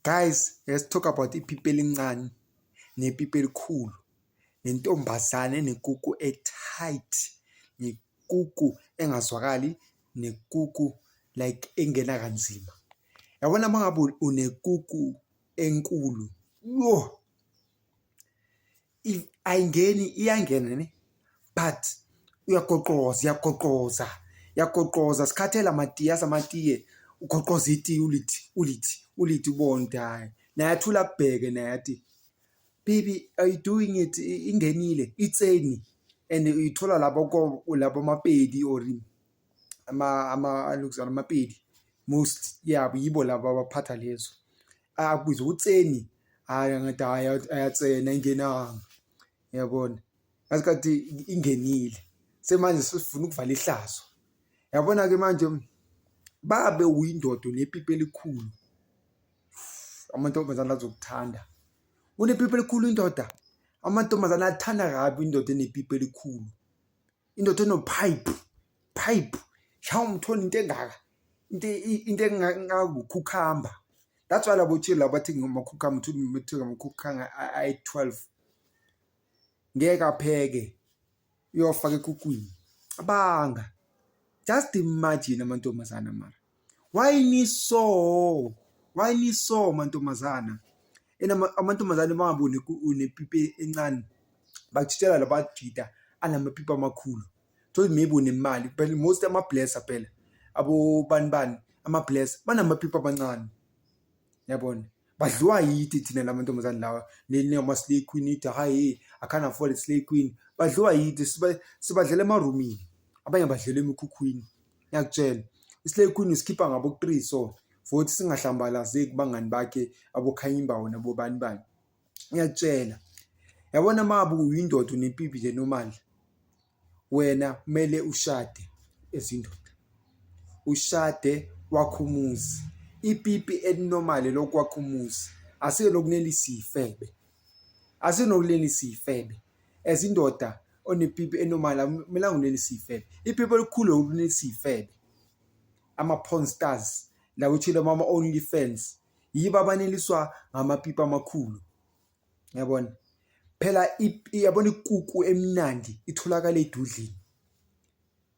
Guys, let's talk about ipipi elincane nepipi elikhulu nentombazane enekuku e-tight nekuku engazwakali nekuku like engena kanzima. Yabona uma ngabe unekuku enkulu, yho! if ayingeni iyangena ne but uyagoqoza uyagoqoza uyagoqoza sikhathela amatiye asamatiye ugoqoza itiye ulithi ulithi ulithi ubonde hayi naye athula kubheke naye athi baby are you doing it ingenile itseni and uyithola labo labo mapedi or ama ama alukuzana amapedi most yabo yibo laba abaphatha lezo akubiza utseni hayi ngathi hayi ayatsena ingenanga yabona ngasikhathi ingenile semanje sifuna ukuvala ihlazo yabona ke manje babe uyindodo nepipi elikhulu amantombazana azokuthanda unepipi elikhulu indoda amantombazana athanda kabi indoda enepipi elikhulu indoda enopipe pipe shawu umthola into engaka into into engakukhukhamba that's why labo chili labathi ngomakhukhamba uthi umethuka amakhukhanga ayi-12 ngeke apheke uyofaka ekukwini abanga just imagine amantombazana mara why niso why niso mantombazana ena amantombazane bangaboni unepipe encane bakutshela labajida anamapipe amakhulu thola maybe unemali phela most ama-blesser phela abobani bani ama-blesser banamapipe amancane yabona badliwa yide thina la mantombazane lawa nenama-slay queen ithi hayi i can't afford slay queen badliwa yide sibadlela emarumini abanye badlela emikhukhwini ngiyakutshela islay queen usikhipha ngabo three so vothi singahlambalazeki bangani bakhe abokhanyimbawo nabobani bani ngiyakutshela yabona mabu uyindoda unempipi le nomandla wena kumele ushade ezindoda ushade wakho umuzi ipipi elinormal lokwakha umuzi asike lokunelisa ifebe asinokulelisa ifebe as indoda onepipi enormal akumelanga unelise iy'febe ipipi elikhulu yokuthi unelise iy'febe ama-porn stars la kuthile mama-only fans yibo abaneliswa ngamapipi amakhulu yabona phela yabona ikuku emnandi itholakala edudlini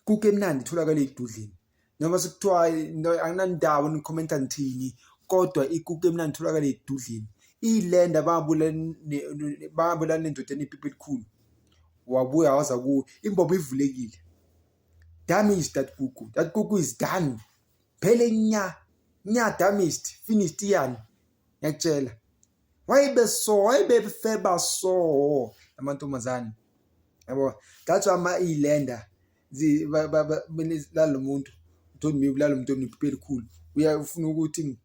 kuke emnandi itholakala edudlini noma sekuthiwa anginandawo nikhomenta ngithini kodwa ikuke emnandi itholakala edudlini iyilenda babulala nendoda enepipi elikhulu wabuya waza kuwo imbobo ivulekile damaged that kuku that kuku is done phele nya nya damaged finished iyani ngiyakutshela wayibe so wayebefeba so amantombazane yabo that's why ama ilenda lalo muntu don't me lalo muntu oniphi elikhulu uyafuna ukuthi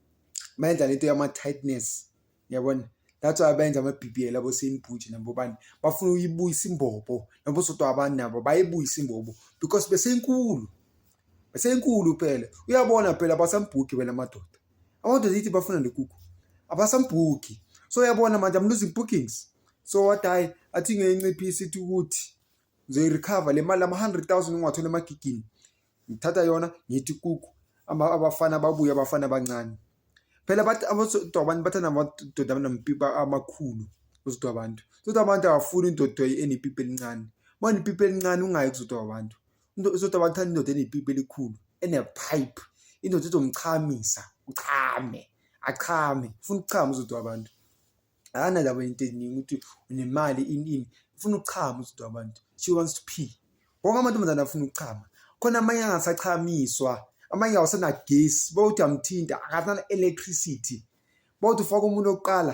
mayenza lento yama tightness yabona that's why benza ama-bbl abo seyinibhuji nabo bani bafuna uyibuyisa imbobo nabo sodwa abantu nabo bayibuyisa imbobo because beseyinkulu beseyinkulu phela uyabona phela basambhugi wena madoda abantu zithi bafuna le kuku abasambuki so uyabona manje i'm losing bookings so what i i think ngiyinciphisa ithi ukuthi ngizoyirecover le mali ama-hundred thousand engiwathole emagigini ngithatha yona ngithi kuku abafana babuye abafana abancane phela abantu abantu bathanda amadoda abanampipa amakhulu uzodwa abantu sodwa abantu awafuni indoda enepipa elincane uma unepipa elincane ungayi kuzodwa abantu into ezothi abantu thanda indoda enepipi elikhulu enepipe indoda ezomchamisa uchame achame ufuna ukuchama uzodwa abantu akanalabo into eningi ukuthi unemali ini ini ufuna ukuchama uzodwa abantu she wants to pee wonke amantombazane afuna ukuchama khona amanye angasachamiswa amanye awusenagesi bawuthi amthinta akasana-electricity bawuthi ufaka umuntu wokuqala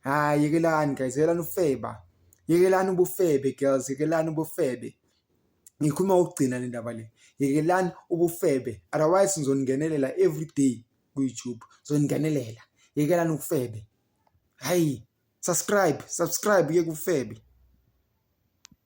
Hhayi yekelani guys, yekelani ufeba. Yekelani ubufebe girls, yekelani ubufebe. Ngikhuluma ukugcina le ndaba le. Yekelani ubufebe. Otherwise ngizoningenelela every day ku-YouTube. Ngizoningenelela. Yekelani ubufebe. Hhayi, subscribe, subscribe uyeke ubufebe.